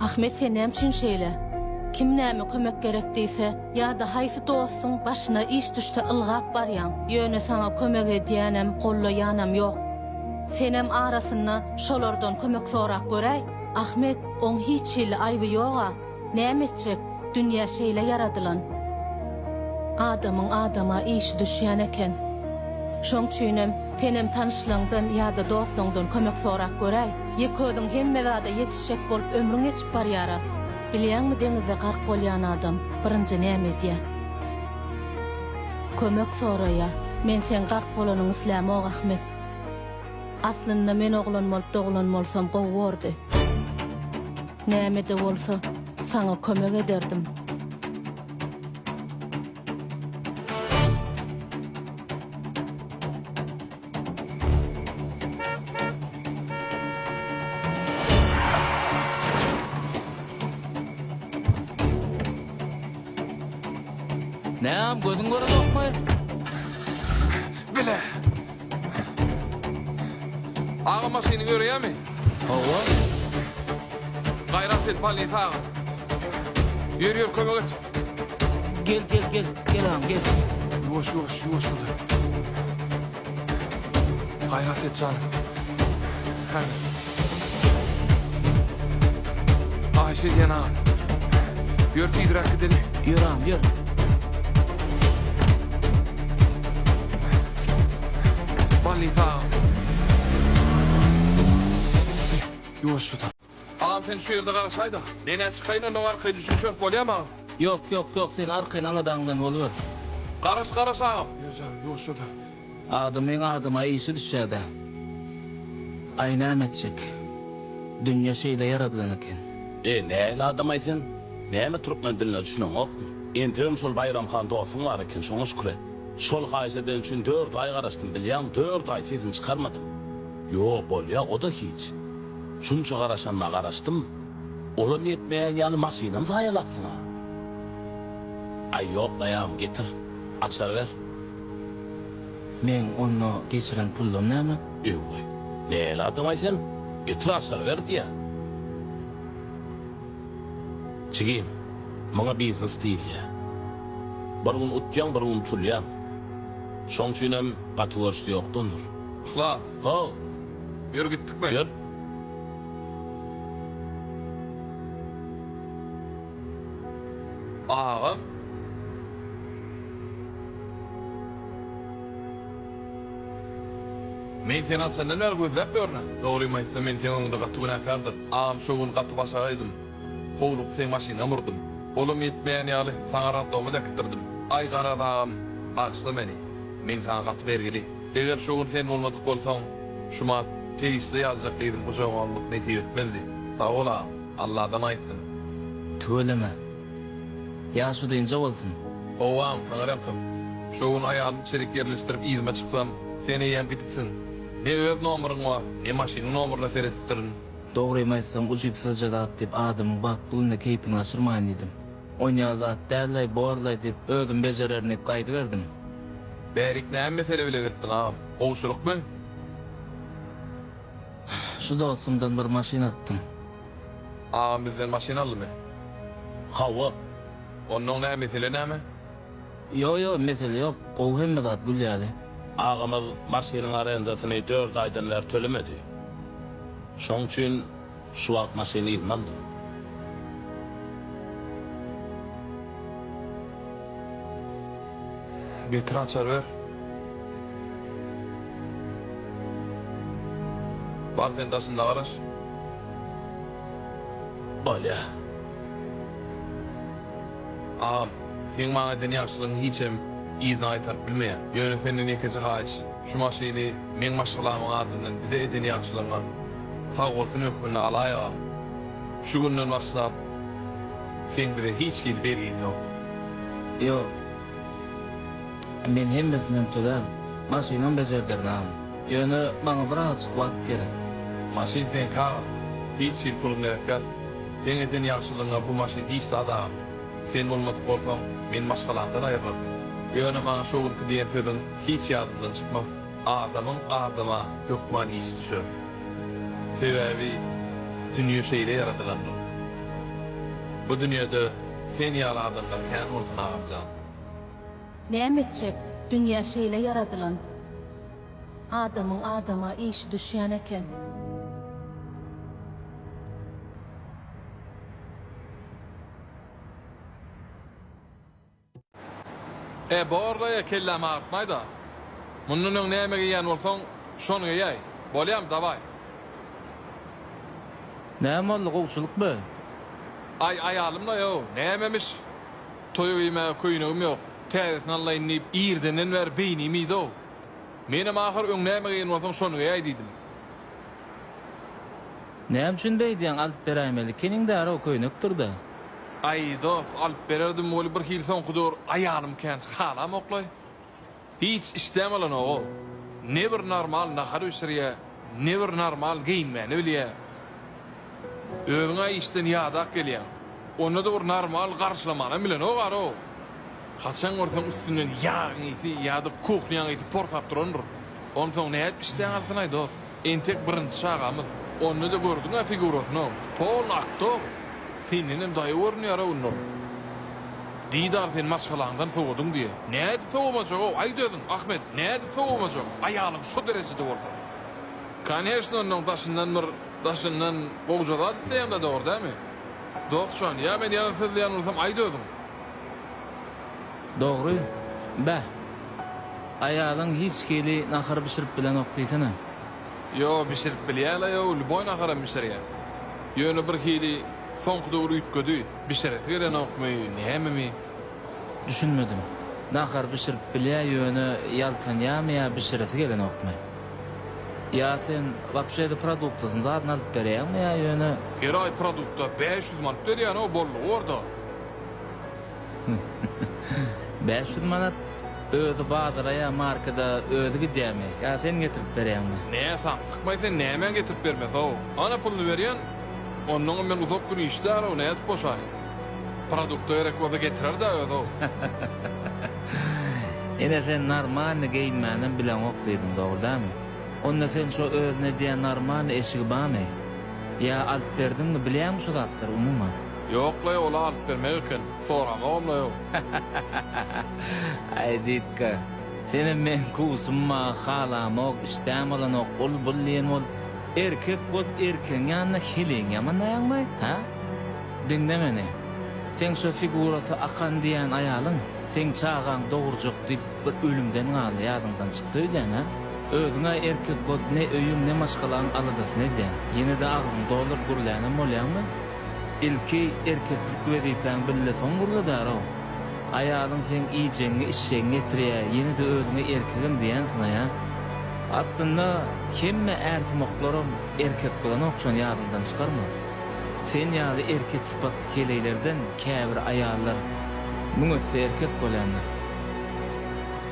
Ahmet sen näme üçin şeýle? Kim näme kömek gerek diýse, ýa-da haýsy dostuň başyna iş düşse ylgap barýaň, ýöne saňa kömek edýänem, gollaýanam ýok. Senem arasynda şolardan kömek sorap göräý. Ahmet, oň hiç hili aýby ýog-a. Näme etjek, dünýä şeýle ýaradylan. Adamyň adama işi düşýän eken. Şoň üçinem senem tanyşlaňdan ýa-da dostuňdan kömek sorap göräý. Ýeke özüň hemme zada ýetişjek bolup ömrüň geçip barýara. Bilýäňmi deňizde gark bolýan adam birinji näme edýä? Kömek soraýa. Men seň gark bolanyňy islämok Ahmet. Aslynda men oglan bolup doglan bolsam gowy bordy. Nämede bolsa saňa kömek ederdim. Näm gözüň görmekmi? Bile. Ağa maşyny görýärmi? Hawa. Gaýrat et, Palin sag. Ýör, ýör, kömek et. Gel gel gel gel agam gel. Yuwaş yuwaş yuwaş şular. Gayrat et canım. Hadi. Ayşe diyen ağam. Yör pidrak gidelim. Yör ağam yör. Ballis ağam. Yuwaş şular. Agam seni şu ýerde garşaýda. Nenä çykaýyn ondan arkaýyn düşünişeris bolýamy agam. Ýok ýok ýok sen arkaýyn aladaň bilen boluber. Garaş garaş agam. Ýör janym ýuwaşjada. Adamyň adama işi düşýädä. Aý näme etjek. Dünýe şeýle ýaradylan eken. Eý nähili adamaý sen? Näme türkmen diline düşüneňokmy? Entegem şol Baýram han dostuň bar eken şoňa şükür et. Şol haýyş eden üçin dört aý garaşdym bilýäňmi dört aý sesimi çykarmadym. Ýo bolýa oda hiç. Şunça garaşanyma garaşdym, olam ýetmeýän ýaly maşynam zaýalapsyň-a. Aý, ýok, daýaw, getir, açar ber. Meň onda geçiren pullam näme? Öwey, nähili adam-aý sen, getir, açar ber diýýä. Jigim, muňa biznes diýilýä. Bir gün utýaň, bir gün utulýaň. Şoň üçinem gaty görşi ýokdandyr. Yhlas, How, ýör gitdikmi? Ýör. Agam. Men seni açandan bäri gözläp ýörün-ä. Dogrymy aýtsam, men seň öňüňde gaty günäkärdin. Agam şo gün gaty baş agaýdym. Howlugyp seň maşynyňam urdum. Olam ýetmeýän ýaly, saňa raddoma-da äkitdirdim. Aý garaz agam, bagyşla meni. Men saňa gaty bergili. Eger şo gün sen bolmadyk bolsaň, Şumat perişde ýalyjak gyzyň gujagyny almak nesip etmezdi. Sag bol, agam. Alladan aýtsyn. Tüweleme. Ýaşy dynja bolsun. Hawa, agam, saňa rehim. Şo gün aýalym çelik ýerleşdirip yzyma çyksam, sen eýýäm gidiksiň. Ne öz nomeryň bar, ne maşynyň nomeryna seredipdirin. Dogrymy aýtsaň, ujypsyzja zat diýip, adamyň bagtly günde keýpini gaçyrmaýyn diýdim. Oýnaýan zat dällaý borlaý diýip özüm bejererin diýip gaýdyberdim. Bärik näme mesele bile gitdiň agam? Gowşurykmy? Şu dostumdan bir maşyn alypdym. Agam bizden maşyn aldymy? Hawa. Onnoň nä mesele näme? Ýok ýok mesele ýok gowy hemme zat gül ýaly. Agamyz maşynyň arendasyny dört aýdan bäri tölemedi. Şoň üçin. Şu wagt maşyny ynmazdyr. Getir açar ber. Bar sen daşynda garaş. Bolýa. Agam, seň maňa eden ýagşylygyň hiçem yzyna gaýtaryp bilmeýär. Ýöne senden ýekeje haýyş. Şu maşyny meň maşgalamyň adyndan bize eden ýagşylygyňa sagbolsun hökmünde alaýygam. Şu günden başlap seň bize hiç hili bergiň ýok. Ýok. Men hemmesinden tölän. Maşynam bejerdirnam. Ýöne maňa bir azajyk wagt gerek. Maşyn seňki agam. Hiç hili puluň gerek däl. Seň eden ýagşylygyňa bu maşyn hiç zat agam. Sen bolmadyk bolsaň, men maşgalamdan aýrylaryn. Ýöne maňa şo günki diýen sözüň. hiç ýadymdan çykmaz. Adamyň adama hökman işi düşer. Sebäbi dünýe şeýle ýaradylandyr. Bu dünýede sen ýaly adamlar kän bolsun agamjan. Näme etjek, dünýä şeýle ýaradylan. Adamyň adama işi düşýän eken. E, borlaýa kelläm agyrtmaý-da. Mundan öň näme geýýän bolsaň, şony geýäý. Bolýamy, dawaý. Näme boldy, gowçulykmy? Aý, aýalymlaý-ow, nämemiş? Toýa geýmäge köýnegim ýok. Täzesini alaýyn diýip, irdenden bäri beýnim iýdi-ow. Menem ahyr öň näme geýen bolsaň, şony geýäý diýdim. Näme üçin beýdýäň alyp beräýmeli keniň därow köýnekdirda. Aý dos alyp bererdim weli bir hili soňky döwür aýalym kän halamoklaý hiç işdämalanogol ne bir normal nahar bişirýä ne bir normal geýinmäni bilýä özüňä işden ýadak gelýäň onda da bir normal garşylamanam bilenok arow. Haçan görseň üstünden ýagyň ysy ýa-da kuhnýaň ysy porsap durandyr. Onsoň nädip işdäň alsyn-aý dost? Entek birinji çagamyz. Onda-da gördüň-ä figurasyny-ow. Polny aktor. Sendenem daýaw görünýär-ow indi ol. Didar sen maşgalaňdan sowadyň diýe. Nädip sowamajak-ow, aýt özüň, Ahmet, nädip sowamajak, aýalyň şo derejede bolsa. Koneşno onnoň daşyndan bir daşyndan gowja zat isleýäň-dä dogry dämi? Dost jan, ýa men ýalan sözleýän bolsam aýt özüň. Dogry. Beh. Aýalyň hiç hili nahar bişirip bilenok diýsene. Ýo, bişirip bilýär-le, ýo, lýuboý naharam bişirýär. Ýöne bir hili soňky döwür üýtgedi. Bişiresi gelenokmy, nämemi? Düşünmedim. Nahar bişirip bilýär, ýöne ýaltanýarmy ýa bişiresi gelenokmy? Ýa sen wapşe-de produktasyny zadyn alyp berýäňmi ýa ýöne. Her aý produkta bäş ýüz manat berýän-ow, boldugy bar-da. Bäş ýüz manat özi bazara ýa markeda özi gidýämi ýa sen getirip berýäňmi? Nä samsykmaý sen nämäň getirip bermesi-ow. Ana puluny berýän. Onnoňam men uzak gün işdäl-ow nädip boşaýyn. Produkta gerek bolsa getirer-dä özi-ow. Ine sen normalny geýinmänem bileňok diýdiň dogry dämi? Onda sen şo özüne diýen normalny eşigi bamy? Ýa alyp berdiňmi bilýäňmi şo zatlary umuman? Ýoklaý ol alyp bermek eken soramagymlaýo. Aý Ditka senem meň kuwsumma halamok işdäň bolanok ul bul diýen bolup erkek bolup erkegiň ýanynda heleň ýamanlaýaňmy hä diňle meni seň şo figurasy akan diýän aýalyň seň çagaň dogurjak diýip bir ölümden galdy ýadyňdan çykdy öýdäň hä özüňä erkek bolup ne öýüň ne maşgalaň aladasyny edýäň ýenede agzyňy dolduryp gürlänem bolýaňmy. Ilki erkeklik wezipäň bille soň gürledär-ow. Aýalyň seň iýjegiňi, içjegiňi getirýä, ýene-de özüňe erkegem diýensiň-aýa. Aslynda hemme ärsumaklaram erkek bolanok şony ýadyňdan çykarma. Sen ýaly erkek sypatly heleýlerden käbir aýallar müň esse erkek bolýandyr.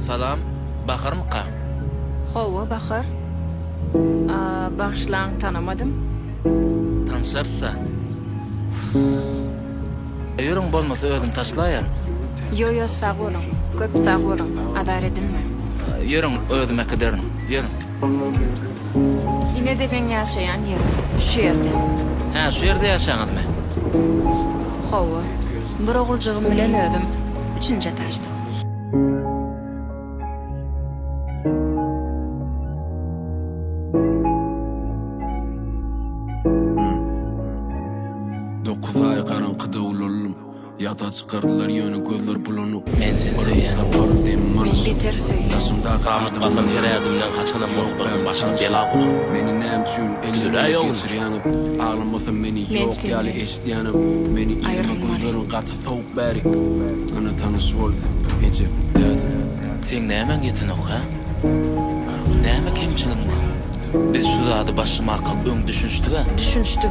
Salam, Baharmyka? Hawa, Bahar. Bagyşlaň, tanamadym. Tanşarys-a. Öýüriň bolmasa özüm taşlaýan. Ýo-ýo, sag boluň. Köp sag boluň. Azar edinmäň. Ýörüň, özüm äkiderin. Ýörüň. Ine de meň ýaşaýan ýerim. Şu ýerde. Hä, şu ýerde ýaşaňyzmy? Hawa. Bir oguljygym bilen özüm üçünji etažda. Ýada çykardylar ýöne gözler bulanok Men seni söýýän Men beter söýýän Ganykmasam her ädimden Haçanam bolupdyryn başyma bela bolan Meni näme üçin eliňden geçirýäňok Aglamasam meni ýok ýaly eşidýäňok Meni ynama gözleriň gaty sowuk bäri Ana tanyş boldy eje däde. Seň nämäň ýetenok hä? Näme kemçiligiň bar? Biz şu zady başlamakkak öň düşünişdiga? Düşünişdik.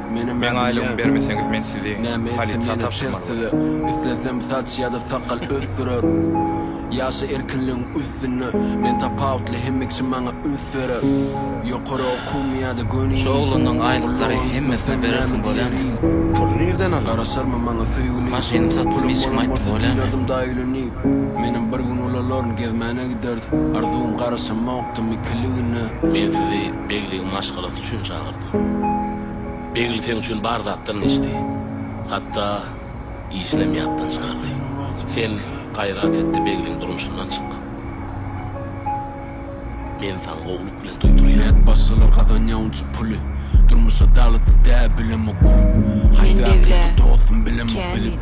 Meň aýlygymy bermeseňiz men sizi polisiýa tabşyrmaly bolaryn. Islesem saç ýa-da sakal ösdürerin. Ýaşa erkinligiň üstünde men tapawutly hemme kişi maňa üns berer. Ýokary okuwmy ýa-da göni iş. Şu oglanyň aýlyklary hemmesine berersiň bolämi? Puly nirden alar? Garaşarmy maňa söýgüli. Maşynymy satdym hiçkime aýtdym bolämi? Menem bir gün ulalaryn gezmäne giderdi. Arzuwym garaşamokdy mikiligine. Men sizi begligin maşgalasy üçin çagyrdym. Begli seň üçin bar zatdan geçdi. Hatda işinem ýatdan çykardy. Sen gaýrat etde Begliň durmuşyndan çyk. Men saňa gowulyk bilen toý turýan. Näet başgalar gazanýaun şu puly. Durmuş adalatly dä bilemok gülüp. Haýsy akyky dostum bilemok bilip.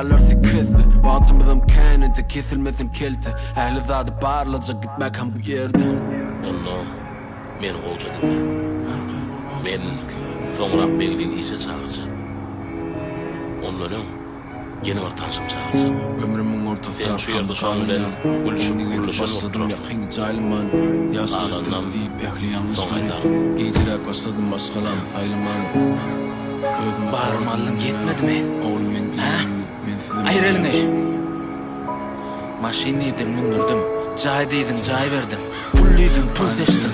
Alerti kesdi, wagtymyzam kän indi Kesilmesin kelte, ähli zady barlajak Gitmäkäm bu ýerden Onda meni gowja diňle. Men soňrak Beglini işe çagyrjak. Ondan öň ýene bir tanşym çagyrjak. Ömrümiň ortasy arkamda galanýan Indi gezip başladym ýakyn jaýlaman Ýaşyl etdim diýip ähli ýalňyşlary Gijräk başladym maşgalam saýlamaly. Barymy aldyň ýetmedimi? Hä? Aýyr eliňi! Maşyn diýdiň mündürdim. Jaý diýdiň jaý berdim. Pul diýdiň pul seçdim.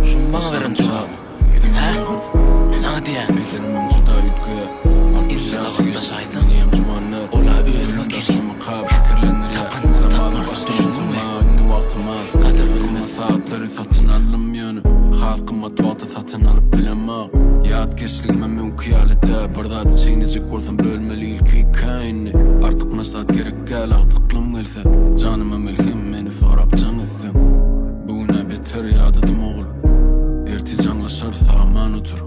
Şumy maňa beren jogabyň? Hä? Saňa diýýän. Indi gapakdaşaýsaň, ol-a özüňe gelin. Tapanyňam tapmarsyň, düşündiňmi? Gadyr bilmez. Satyn alyp bilemok Ýatkeşligime müňki ýaly dä Bir zady çeýnejek bolsam bölmeli ilki ikä indi Artyk maslahat gerek däl agtyklym gelse Janyma melhem meni sorap jaň etseň Bu gün-ä beter ýadadym ogul Ertir jaňlaşarys aman otur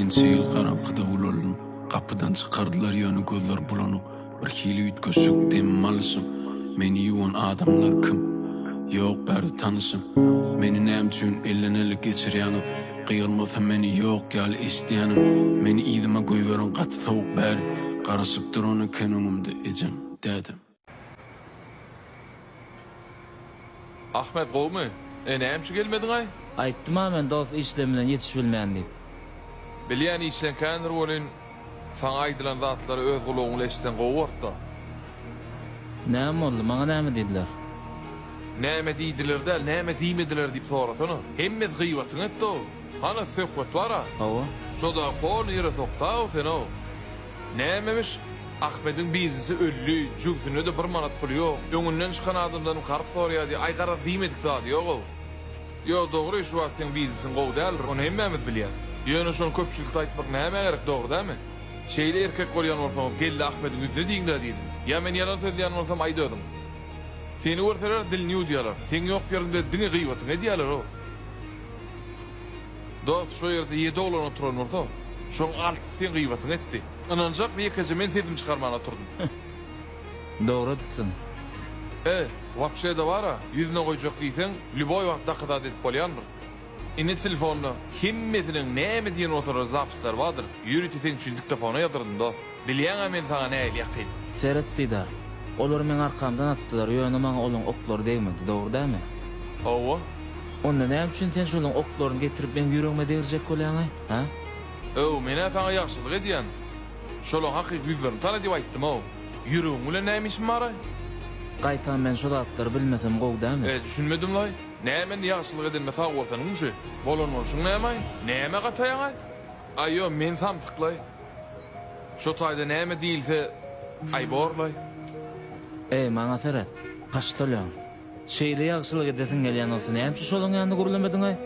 Ençe ýyl garaňkyda ulaldym Gapydan çykardylar ýöne gözler bulanyk Bir hili üýtgeşik dem alyşym Meni ýuwan adamlar kim? Ýok bärde tanyşym Meni näme üçin elden ele geçirýäňiz? Gyýylmasa meni ýok ýaly eşidýänim Meni yzyma goýberiň gaty sowuk bäri Garaşyp duran eken öňümde ejem, dädem. Ahmet gowmy? E näme üçin gelmediňaý? Aýtdym-a men dos işleň bilen ýetişibilmen diýip. Bilýän işleňkändir welin, saňa aýdylan zatlary öz gulagyň bilen eşitseň gowy bortda. Näme boldy? Maňa näme diýdiler? Näme diýdiler däl, näme diýmediler diýip sorasana. Hemmesi gyýbatyňy etdi-ow. Hany söhbet bara. Hawa. Şoda kol ýere sokdaw senow. Nämemiş, Ahmediň bizisi öldi, jübsünde-de bir manat puly ýok. Öňünden çykan adamdan karz soraýady, aý garaz diýmedik zady ýog-ow. Ýo, dogry, şu wagt seň bizisiň gowy däldir, ony hemmämiz bilýäs. Ýöne şony köpçülikde aýtmak nämä gerek, dogry dälmi? Şeýle erkek bolýan bolsaňyz, geldi Ahmediň ýüzüne diýiň-dä diýdim. Ýa men ýalan sözleýän bolsam aýt özüň. Seni görseler dilini ýuwdýarlar. Seň ýok ýeriňde diňe gyýbatyňy edýärler-ow. Dost, şo ýerde ýedi oglan oturan bolsa, şoň altysy seň gyýbatyňy etdi. Ynanjakmy, ýekeje men sesimi çykarman oturdym. Dogry edipsiň. E, wapşe-de bar-a, ýüzüne goýjak diýseň, lýuboý wagt dokazat edip bolýandyr. Indi telefonda hemmesiniň näme diýen bolsa-da zapisleri bardyr, ýörite seň üçin diktofona ýazyrdym, dost. Bilýäň-ä men saňa nähili ýakyn. Seret, Didar. Olar meň arkamdan atdylar, ýöne maňa olaň oklary degmedi, dogry dälmi? Hawa. Onda näme üçin sen şolaň oklaryny getirip meň ýüregime degrjek bolýaň-a, hä? Öw, men-ä saňa ýagşylyk edýän. Şolaň hakyky ýüzlerini tana diýip aýtdym-ow. Ýüregiň bilen näme işim bar-aý? Gaýtam men şo zatlary bilmesem gowy dälmi? E, düşünmedim-laý. Näme indi ýagşylyk edenime sag bolsanyňmy şu? Bolan bolşuň näme-aý? Nämä gataýaň-aý? Aý, ýo, men samsyk-laý. Şo taýda näme diýilse, aý borlaý. Eý, maňa seret, paçtalýon. Şeýle ýagşylyk edesiň gelýän bolsa, nämçe şolaň ýanynda gürlemediň-aý?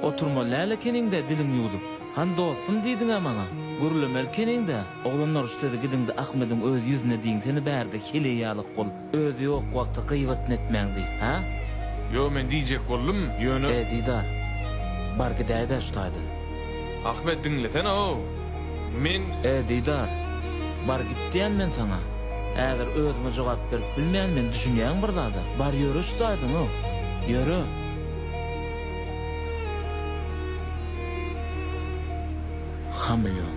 Oturmaly däl ekeniň-dä diliň ýuwdup. Han dostum diýdiň-ä maňa. Gürlemeli ekeniň-dä. Oglan uruşda-da gidiň-de Ahmediň öz ýüzüne diýiň, seni bärde, heleý ýaly gul. Özi ýok wagty gyýwatny etmäňdi, hä? Ýo, men diýjek boldum, ýöne. He, Didar. Bar gidäýdä şu taýdan. Ahmet, diňlesene-ow! Men. He, Didar. Bar git diýýän men saňa. Häzir özüme jogap berip bilmeýän men, düşünýäňmi bir zada? Bar ýöre şu taýdan-ow! Ýöre! Hameleon.